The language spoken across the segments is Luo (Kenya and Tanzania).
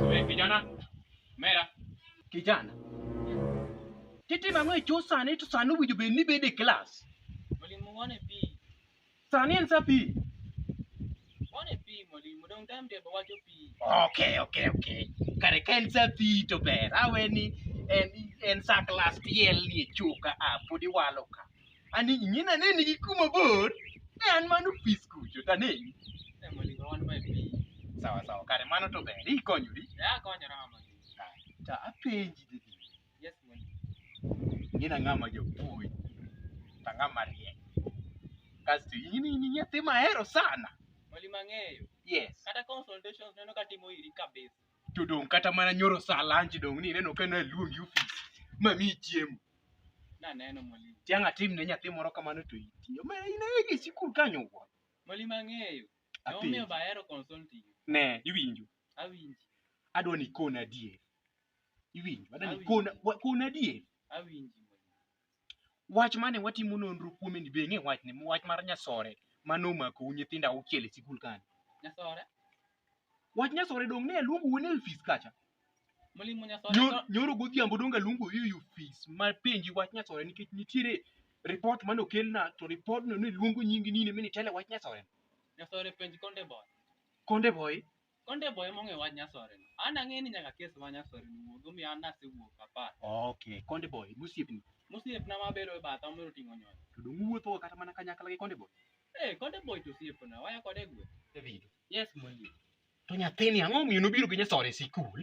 Wewe kijana, mera. Kijana. Tete mang'we chusa ni to sanu wujo be ni bede class. Mwalimu one pi. Sani en saa pi. One pi mwalimu, dong time table wacho pi. Okay, okay, okay. Kare ka en saa pi to ber. Awe ni en en saa klas tiel ni e chuka a podi walo ka. Ani ing'ina ne nigi kuma bor. Ne an mano pi skucho ta ne. Eh, mwalimu, wan mae pi. Sawa sawa kare mano to ber. Ikonyori. Ya konyora mwalimu. Ta apenji didi. Yes, mwalimu. Ngina ng'ama jopuonj ta ng'ama riek. Kasto in in nyathi mahero sana. Mwalimu ang'eyo. Yes. Kata consultations neno ka timo iri kabisa. To dong' kata mana nyoro sa lunch dong' ni ineno ka naluongi ofis ma mi chiemo. Naneno mwalimu. Tiang' atim ne nyathi moro kamano to itiyo. Ma in e sikul kanyo wuon. Mwalimu ang'eyo. Emomiyo Apenji. bahero consulting. Ne, iwinjo. Awinji. Adwa ni ikona adier. iwinjo adani Awinjo. kona wa- kona adier Awinji mondo. wach mane watimo nonro kuome ni be ing'e wach ni wach mar nyasore mane omakou nyithindo auchiel e sikul kani Nyasore. wach nyasore dong ne aluongo wuone e ofis kacha Mwalimu Nyasore. Nyo- to- nyoro godhiambo dong aluongo e ofis ma penji wach nyasore nikech nitiere ripot mane okelna to ripodno ne luongo nyingi nini mi nitele wach nyasore Nyasore penj konde boy. konde boy Konde boy mong'e wach nyasore no. An ang'e ni nyaka kes ma nyasore no wuog omiyo an nasewuok apar. Okay, Konde Boy, gosiepni. Mosiepna mabedo e batha omero ting'o nyoyo. To dong' uwuothoga kata mana kanyakla gi Konde Boy? Eh, Konde boy to osiepna, waya kode e gweng'. David. Yes, Mwalimu. To nyathini ang'o omiyo nobiro gi nyasore e sikul?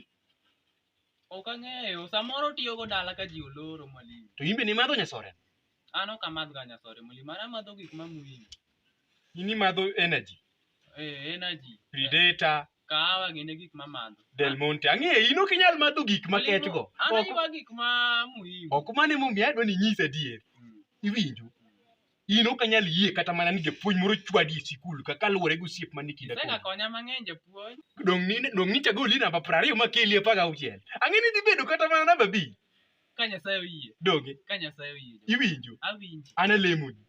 Ok ang'eyo, samoro otiyogo dala ka ji oloro mwalimu. To imbe ni madho nyasore. An ok amadh ga nyasore mwalimu, an amadho gik ma muhimu. Ini madho energy. Eh, energy. Predator. Kahawa gine gik ma madho. Del Monte. Ang'eyo, in ok inyal madho gik ma ketgo. An aywa gik ma muhimu. Ok mane momiyo adwa ni nyisa adier. Mm. Iwinjo? in ok anyal yie kata mana ni japuonj moro chwadi e sikul ka kaluwore gi osiep man e kinda kodi. Isegakonya mang'eny japuonj. Dong' ni dong' ni chagoli namba piero ariyo makeli apar gauchiel. Ang'e ni dhi bedo kata mana namba abich. Ka Nyasaye oyie. Donge? Ka Nyasaye oyie. japuonj. Iwinjo? Awinji. An alemoni.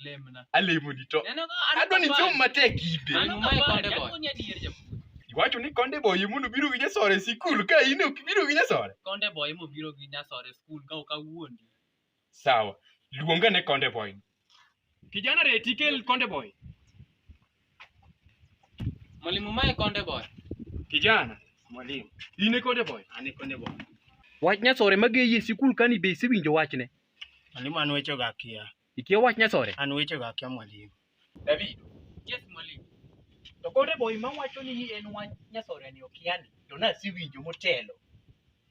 Lemna. Alemoni to. Neno ka an Adwa ni kapar. som matek ibe. An Ang'o ma kapar, ikonde boy? japuonj adier japuonj. Iwacho ni konde boye mondo biro gi nyasore e sikul ka in ok biro gi nyasore. Konde boy mobiro gi nyasore skul ka ok awuondi. Sawa. Luongane Konde Boy. Kijana reti kel Konde Boy. Mwalimu mae Konde Boy. Kijana, mwalimu. In e Konde Boy. An e Konde Boy. Wach nyasore mageyi e sikul kani be isewinjo wachne? Mwalimu an wechego akia. Ikia wach nyasore? An wechego akia mwalimu. Davido. Yes, mwalimu. To kore boy ma wacho ni en wach nyasore ni okiani, to nasewinjo motelo.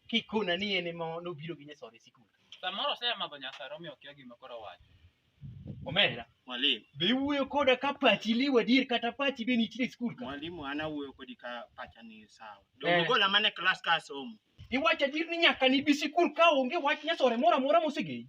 Kikona ni en ema nobiro gi nyasore sikul. Samoro osemadho nyasare omiyo okia gima koro owacho. Omera, Mwalimu, be iwuoyo koda ka pachi liwa dier kata pachi be nitie e sikul ka? mwalimu an awuoyo kodi ka pacha ni sawa. Eh. Donge gola mana e klas ka asomo. Iwacho adier ni nyaka nibi sikul ka onge wach nyasore moro amora mosegei.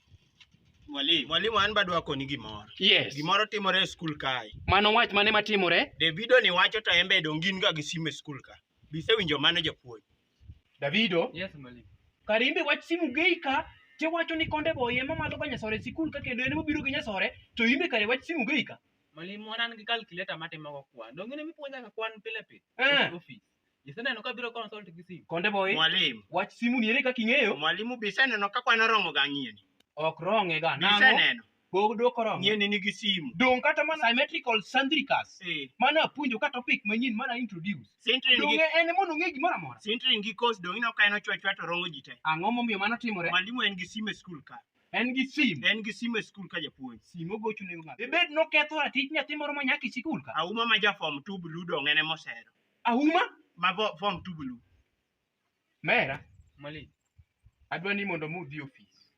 Mwalimu. Mwalimu an bado akoni gimoro. Yes. Gimoro timore e skul kae. Mano wach mane matimore? Davido ni wacho to en be donge in ga gi simu e skul ka. Bisewinjo mano japuonj. Davido, Yes, mwalimu. kare in be wach simu gei ka tiwacho ni konde boy ema madho ka nyasore e sikul ka kendo en mobiro gi nyasore to in be kare wach simu gei ka. Mwalimu wan an gi calculator matimogo kwan. Donge ne mipuonja ka kwan pile pile? Eh. Office. Iseneno ka biro consult gi simu. Konde boy, Mwalimu. wach simu ni ere kaka ing'eyo? Mwalimu be iseneno ka kwan oromo ga ng'ieni. Ok rong'e ga. Be Nang'o? iseneno? Pod ok oromo. Ng'ieni nigi simu. Dong' kata mana symmetrical sandricas. Eh, Mane apuonjo ka topic manyien mane a introduce. Sintrin Dong' gi en mondo ong'e gimoro amora. Sintrin gi kos dong' ineno ka en ochwa chwa to rongo ji te. Ang'o momiyo mano timore? Mwalimu en gi simu e skul ka. En gi sim. En gi simu e skul ka japuonj. Sim ogocho nego ng'ato. Dibed noketho ratich nyathi moro ma nyaka e sikul ka. Auma ma ja form 2 blue dong' en ema osero. Ahuma ma vo- form two blue. Mera, Mwalimu. adwa ni mondo mudhi ofis.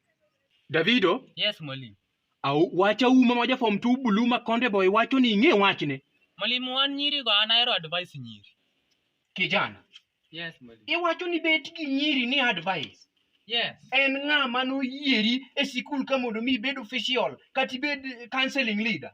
Davido, Yes, mwalimu. au wacha uma ma ja form 2 bulu ma konde boy wacho ni ing'e wachne. Mwalimu wan nyiri go an ahero advice nyiri. Kijana, Yes, mwalimu. iwacho ni bet gi nyiri ni advice. Yes. En ng'a ma noyieri e sikul ka mondo mi ibed official kata ibed counseling leader.